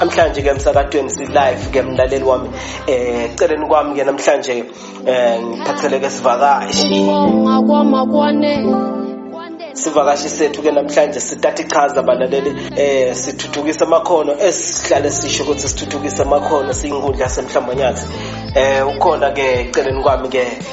namhlanje ke emsakatweni si-live ke mlaleli wami um eh, celeni kwami ke namhlanje um eh, ngiphatheleke sivakashi sivakashi sethu ke namhlanje sithatha ichaza balaleli eh sithuthukisa amakhono esihlale sisho ukuthi sithuthukisa amakhono siyinkundla semhlambonyathi eh ukhona ke celeni kwami ke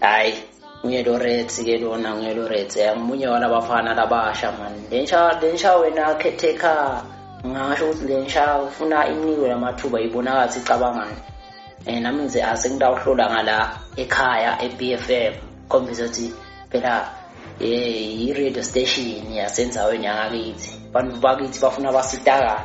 hayi uyelorethi ke lona uyelorethi amunye walabafana labasha mani lensha lensha wena khetheka ngasho ukuthi lensha ufuna inikwe lamathuba ibonakathi icabangani um nami ngize ase ngitawuhlola ngala ekhaya e-b f m khombisa ukuthi phela um yi-radio station yasenzaweni yangakithi abantu bakithi bafuna basitakale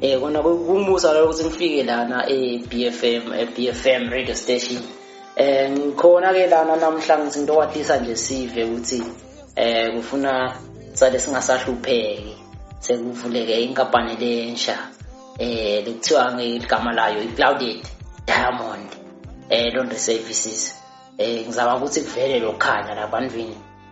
Eh kona kumbusa lokho ukuthi ngifike lana eBFM eBFM radio station. Eh ngikhona ke lana namhla ngithi into wathisa nje sive ukuthi eh kufuna sale singasahlupheki sekuvuleke inkampani lensha eh lokuthiwa ngegama layo iClouded Diamond eh laundry services eh ngizama ukuthi kuvele lokhanya labantwini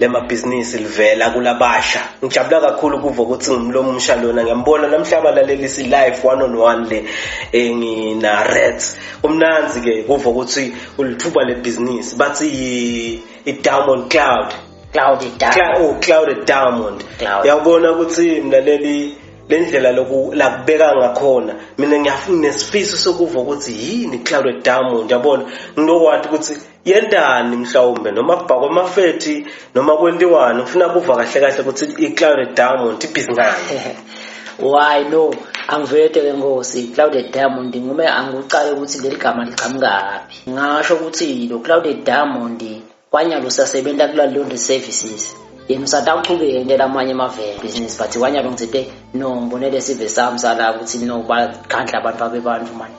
lemabhizinisi livela kulabasha ngijabula kakhulu ukuva ukuthi ngimlomo umsha lona ngiyambona namhlaba lalelisi live one on one le engina eh, reds kumnanzi ke kuva ukuthi ulithuba lebhizinisi bathi i-diamond cloud cloud diamond oh cloud diamond yawubona ukuthi mlaleli lendlela loku lakubeka ngakhona mina ngiyafuna nesifiso sokuva ukuthi yini cloud diamond yabona nginowathi ukuthi yentani mhlawumbe noma kubhakwa amafethi noma kwentiwani ngifuna kuva kahle kahle ukuthi i-clouded diamond ibhizi ngani why no angivete ke ngosi clouded diamond ngume angikucale ukuthi leli gama liqhamukaphi ngasho ukuthi lo clouded diamond kwanyalo sasebenza kula laundry services yena usatawuchube yentela amanye amavele business but kwanyalo ngithe no ngibonele sive sami sala ukuthi no bakhandla abantu babebantu manje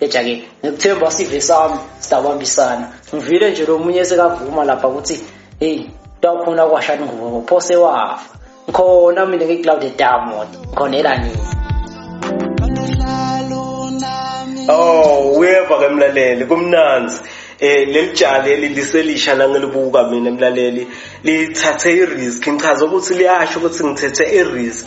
Eja-ke ngikuthemba sive sami sidabambisana ngivile nje lo munye sekavuma lapha ukuthi heyi tawukhona kwashani ngubo phose wafa ngikhona mina ngiklawude damot ngikhonela nini Oh, uyeva ke mlaleli kumnanzi eh leli jali eliselisha la ngilibuka mina mlaleli lithathe i-risk ngichaza ukuthi liyasho ukuthi ngithethe i-risk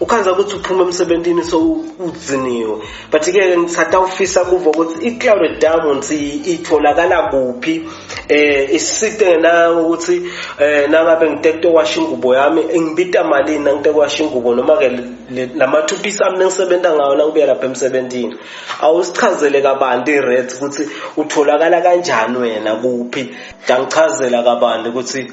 ukhanza ukuthi uphuma emsebentini so udziniwe but ke ngithatha ufisa kuvo ukuthi i-clouded diamonds itholakala kuphi eh isite ngena ukuthi eh nangabe ngitekto washa ingubo yami ngibita malini nangitekto washa ingubo noma ke lamathupi sami nengisebenza ngawo nangibuya lapha emsebentini awusichazele kabanti i-rates ukuthi utholakala kanjani wena kuphi ngichazela kabanti ukuthi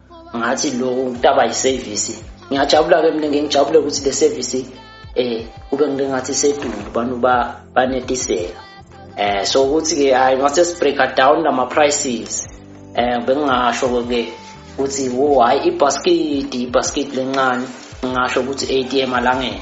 ngathi lo ntaba yisevisi ngiyajabula-ke mina ngengijabule ukuthi le sevisi um kube ngike ngathi sedulu abantu banetiseka um so ukuthi-ke hhayi ngase sibreaka down nama-prices um bengingasho-ke ukuthi wo hhayi ibhaskidi ibhaskidi lencane ngingasho ukuthi i-a t m alangene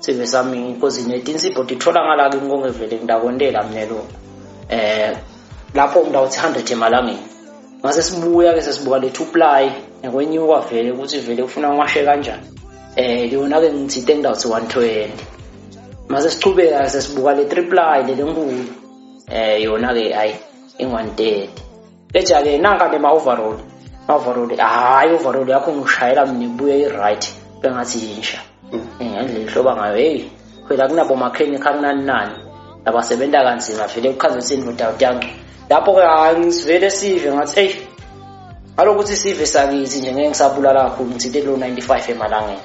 sive sami because netinsipho titfola ngala kimi kongevele ngidakontela mina lo eh lapho umntu awuthi 100 emalangeni ngase sibuya ke sesibuka le two ply ngekwenyuka vele ukuthi vele ufuna ngiwashe kanjani eh yona ke ngithi into engidawuthi 120 mase sichubeka ke sesibuka le three ply le lenkulu eh yona ke hayi ingu-130 ejake nanka ke ma-overall ma-overall hhayi overall yakho ngishayela mina ibuye i-right bengathi yinsha mm. eh, ngendlela ihloba ngayo heyi phela kunabomakheni khakunani nani nabasebenza kanzima vele kuchaza ukuthi indoda uyanca lapho-ke hhayi ngisivele sive ngathi eyi ngalokuthi sive sakithi nje ngeke ngisabulala kakhulu ngithinte lo-95 emalangeni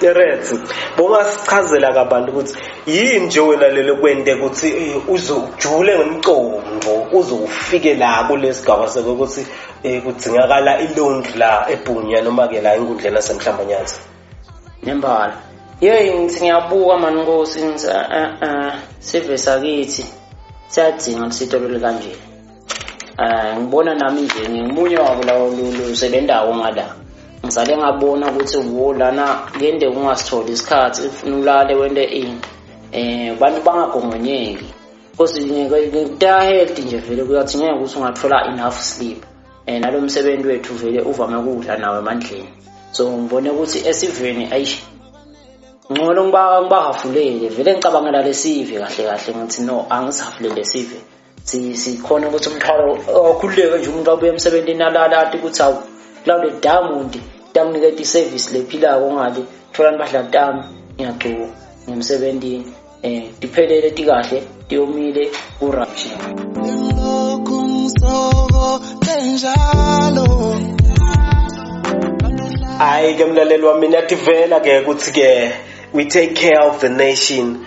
Terence bongasichazela kabantu ukuthi yini nje wena lelo kwente ukuthi eh, uze ujule ngomcondvo uze ufike la kulesigaba sokuthi eh, kudzingakala ilaundry la ebhunya noma ke la enkundleni yasemhlambanyazi nembala yeyi ngithi ngiyabuka mani nkosi ngithi a-a sive sakithi siyadinga ukuthi sitolole kanjena um ngibona nami nje ngingumunye wabo lawo lusebendawo ngala ngisale ngabona ukuthi wo lana kuyende kungasitholi isikhathi ufuna ulale wente ini um abantu bangagongonyeki because ngikutahedi nje vele kuyathi ngeke ukuthi ungathola enough sleep um nalo msebenzi wethu vele uvame ukudla nawo emandleni so ngibone ukuthi esiveni ayish ngcono ngibahafulele vele ngicabangela lesive kahle kahle ngithi no angisihafulele sive sikhona ukuthi umthwalo okhululeke nje umuntu abuye emsebenzini alala athi ukuthi awu kulawule diamond ngiyakuniketa iservice lephilayo ongale thola impahla tami ngiyagcuka ngimsebenzini eh tiphelele tikahle tiyomile ku-right hayi ke mlaleli wami niyadivela ke ukuthi ke we take care of the nation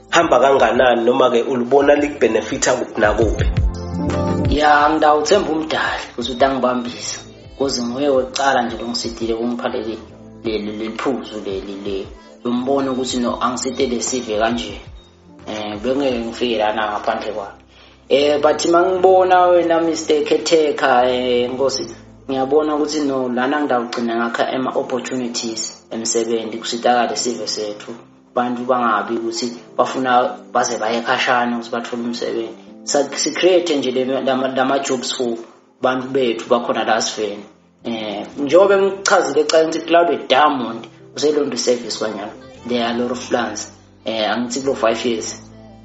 hamba kanganani noma-ke ulubona likubhenefitha kuphi nakuphi ya ngidawuthemba umdali ukuthi uthi angibambisa kuze nguye wokucala nje longisidile kungipha leli leli liphuzu leli le lombona ukuthi no angisidele sive kanje um bengeke ngifike lana ngaphandle kwakhe eh but mangibona wena Mr Ketheka eh nkosi ngiyabona ukuthi no lana ngidawugcina ngakha ama opportunities emsebenzi kusitakale sive sethu abantu bangabi ukuthi bafuna baze baye khashana ukuthi bathole umsebenzi si-create nje lama-jobs for bantu bethu bakhona la siveni um eh, njengoba emchazile ekucaleni ukuthi cloud diamond uselonto service kwanyana there are lot of plans um eh, angithi kulo five years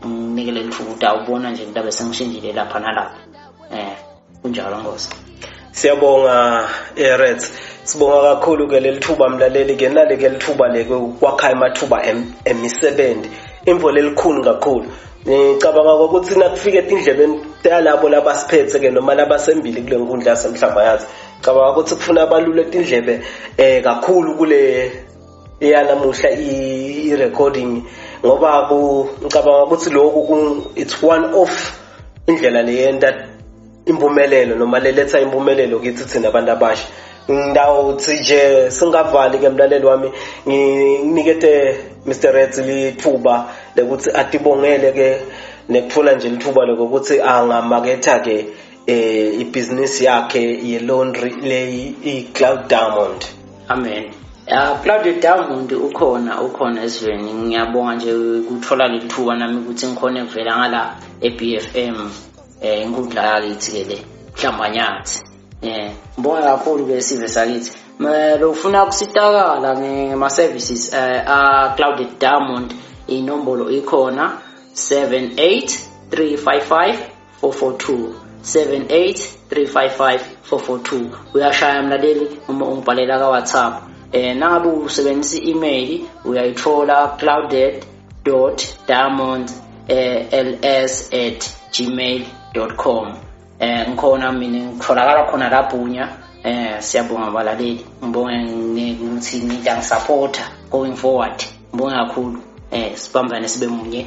nginikele lithuba ukuthi awubona nje into abe sengishintshile lapha nalapha um eh. kunjalo nkosi siyabonga erets sibonga kakhulu ke leli thuba mlaleli ke nali ke lithuba le kwakha amathuba emisebenzi imvo lelikhulu kakhulu ngicabanga ukuthi nakufika etindlebeni yalabo labasiphethe ke noma labasembili kule nkundla yasemhlaba yathi cabanga ukuthi kufuna abalule etindlebe eh kakhulu kule ya namuhla i-recording ngoba ngicabanga ukuthi lokhu it's one off indlela leyenta impumelelo noma leletha impumelelo kithi thina abantu abasha ngidawuthi nje singavali ke mlaleli wami nginikete Mr Reds lithuba lekuthi atibongele ke nekuthola nje lithuba lokuthi angamaketha ke eh ibhizinisi yakhe ye-laundry leyi i-cloud diamond amen ya cloud diamond ukhona ukhona esiveni ngiyabonga nje ukuthola leli thuba nami ukuthi ngikhone kuvela ngala e-b f m um eh, inkundla yakithi-ke le mhlambanyathi um eh, ngibonga kakhulu-ke sive sakithi lofuna ukusitakala ngema-services um eh, a-cloud diamond inombolo ikhona 78 355 442 78355 uyashaya mlaleli uma ungibhalela ka WhatsApp eh nangabe usebenzisa i-email uyayithola clouded.diamond eh, ls@gmail.com eh ngikhona mina ngitholakala khona labhunya eh siyabonga balaleli ngibonge ukuthi nidla ngisupporter going forward ngibonge kakhulu eh sibambane sibe munye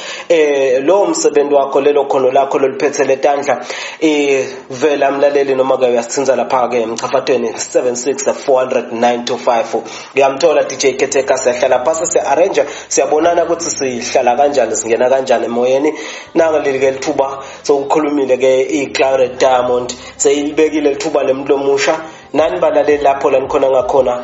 eh lowo msebenzi wakho lelo khono lakho loliphethe letandla eh vela mlaleli noma ke uyasithinza lapha ke emchafathweni 76409255 uyamthola DJ Ketheka siyahlala phasi si arrange siyabonana ukuthi sihlala kanjani singena kanjani emoyeni nanga lelike lithuba sokukhulumile ke iClare Diamond seyilibekile lithuba lemlomusha nani balaleli lapho lanikhona ngakhona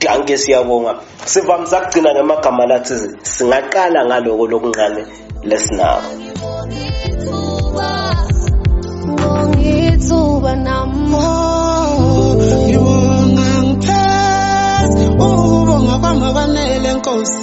danke siyabonga sivamise kugcina ngamagama lathi singaqala ngaloko lokunqane lesinabo ngithuba namo ngibonga ngipheza ubonga kwami kwanele nkosi